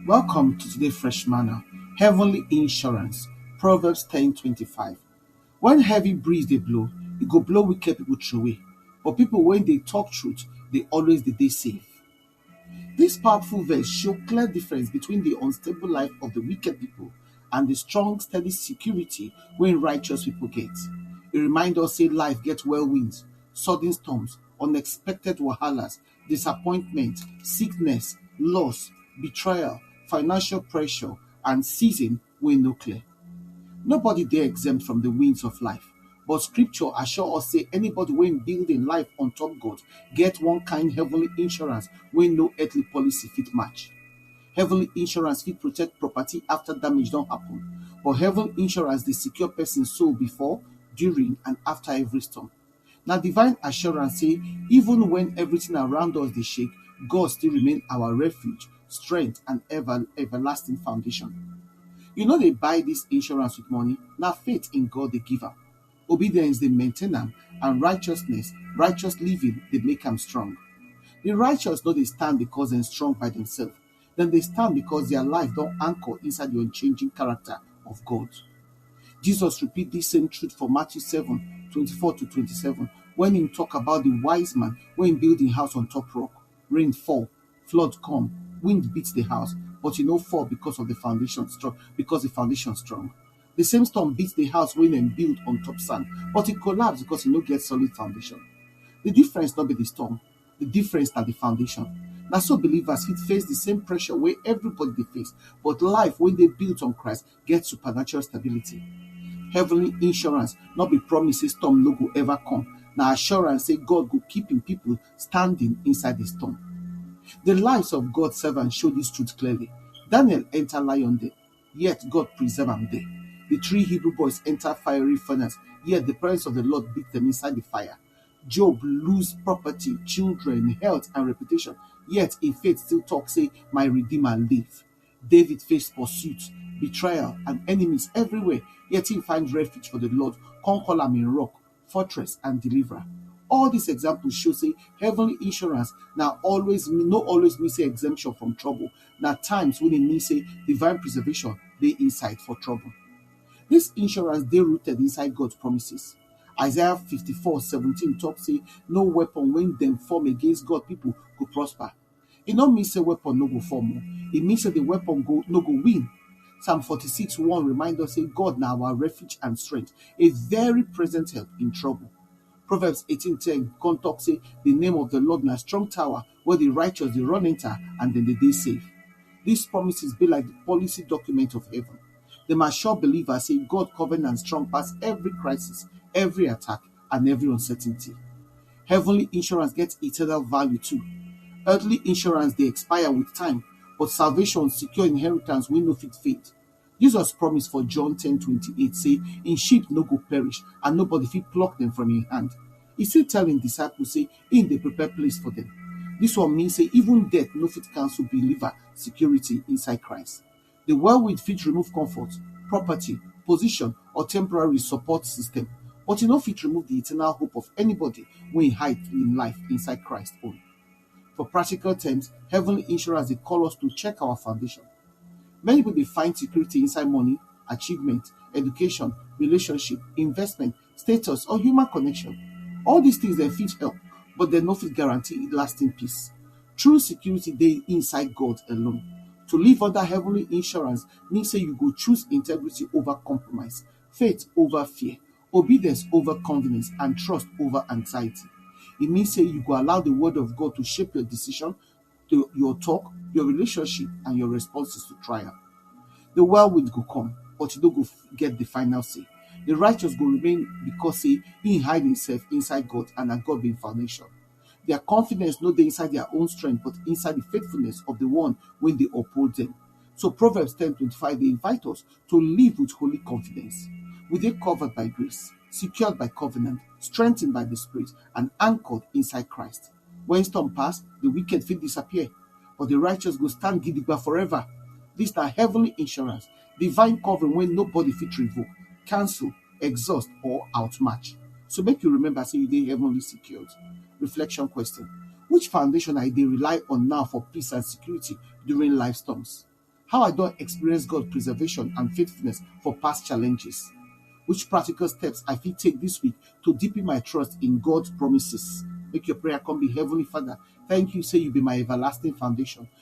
Welcome to today fresh manner, heavenly insurance, Proverbs ten twenty five. When heavy breeze dey blow, e go blow wicked people throway, but people wey dey talk truth dey always dey dey safe. This powerful verse show clear difference between the unstable life of the wicked people and the strong, steady security wey righteous people get. E remind us say life get whirlwinds, sudden storms, unexpected wahalas, disappointment, sickness, loss, betrayal, financial pressure and season wey no clear. Nobody dey exempt from di winds of life but scripture assure us sey anybody wey build im life on top God get one kind heavenly insurance wey no earthly policy fit match. Heavenly insurance fit protect property after damage don happen but heaven insurance dey secure person soul before, during and after every storm. Na divine assurance sey even wen everything around us dey shake, God still remain our refuge, strength and ever everlasting foundation. You no dey buy dis insurance with money, na faith in God dey give am. Obedience dey maintain am and righteousness, righteous living dey make am strong. Di righteous no dey stand because dem strong by demself. Dem dey stand because their life don anchor inside the unchanging character of God. Jesus repeat this same truth for Matthew 7, 24 to 27, when he talk about the wise man when build his house on top rock. Rain fall, flood come, wind beat the house, but e no fall because of the foundation strong, because the foundation strong. The same storm beat the house when dem build on top sand, but it collapsed because it no get solid foundation. The difference not be the storm, The difference na the foundation. Na so believers fit face the same pressure wey everybody dey face, but life wey dey built on Christ get supernatural stability. Heavenly insurance no be promise say storm no go ever come, na assurance say God go keep im people standing inside the storm. The lives of God servants show this truth clearly. Daniel enter lion den, yet God preserve am there. The three Hebrew boys enter fiery furnace, yet the presence of the Lord beat them inside the fire. Job lose property, children, health, and reputation, yet im faith still talk say, My Redeemer live. David face pursuit, betrayal, and enemies everywhere, yet he find refuge for the Lord, come call am im rock, fortress, and deliverer. All these examples show say heavenly insurance na always no always mean say exemption from trouble. Na times when e mean say divine preservation dey inside for trouble. This insurance dey rooted inside God promises. Isaiah 54 17 talk say no weapon when them form against God people go prosper. It no mean say weapon no go form. Oh. It means that the weapon go no go win. Psalm 46 1 remind us say God now our refuge and strength, a very present help in trouble. Proverbs 18 10 come talk say the name of the Lord na strong tower wey di righteous dey run enter and dem dey dey safe. Dis promises be like di policy document of heaven. Dem assure believers sey God covenant strong pass every crisis, every attack and every uncertainty. Heavenly insurance get eternal value too. Earthly insurance dey expire with time but salvation secure inheritance wey no fit fade. Jesus promise for John ten twenty eight say im sheep no go perish and nobody fit pluck dem from im hand. E still tell im disciples say im dey prepare place for dem. Dis one mean say even death no fit cancel believer security inside Christ. Di whirlwind fit remove comfort, property, position or temporary support system, but e no fit remove di eternal hope of anybody wey hide im life inside Christ own. For practical terms, heaven insurance dey call us to check our foundation. Many pipu dey find security inside money, achievement, education, relationship, investment, status or human connection. All dis things dem fit help but dem no fit guarantee lasting peace. True security dey inside God alone. To live under heavenly insurance mean sey you go choose integrity over compromise, faith over fear. Obedience over convenience and trust over anxiety. E mean sey you go allow de word of God to shape your decision, to your talk, your relationship and your responses to trial. De whirlwind go come but you no go get de final say. De righteous go remain because sey im hide himself inside God and na God be im foundation. Dia confidence no dey inside dia own strength but inside di faithfulness of di One wey dey uphold dem. So Proverbs ten twenty five dey invite us to live with holy confidence. We dey covered by grace, secured by covenant, strengthened by di Spirit and anchored inside Christ. Wen storm pass, di wicked fit disappear but di righteous go stand gidigba forever. Dis na heavenly insurance, divine covering wey nobody fit revoke, cancel exhaust or outmatch. So make you remember say you dey heavenly secured. Reflection question, Which foundation I dey rely on now for peace and security during life storms? How I don experience God preservation and faithfulness for past challenges? Which practical steps I fit take this week to deepen my trust in God's promises? Make your prayer come be Heavenly Father, thank you say you be my everlasting foundation.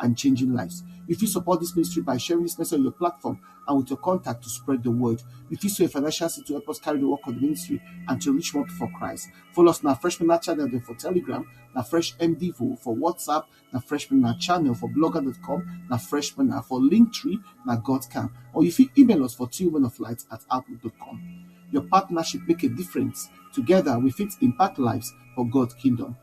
and changing lives. You fit support this ministry by sharing this message on your platform and with your contact to spread the word. You fit sow a financial seed to help us carry the work of the ministry and to reach more people for Christ. Follow us on our Freshman Night channel then for Telegram, na Fresh MDVO for WhatsApp, na Freshman Night channel for blogger.com, na Freshman Night for Linktree, na Godcam. Or you fit email us for two of light at outlook.com. Your partnership make a difference. Together we fit impact lives for God's kingdom.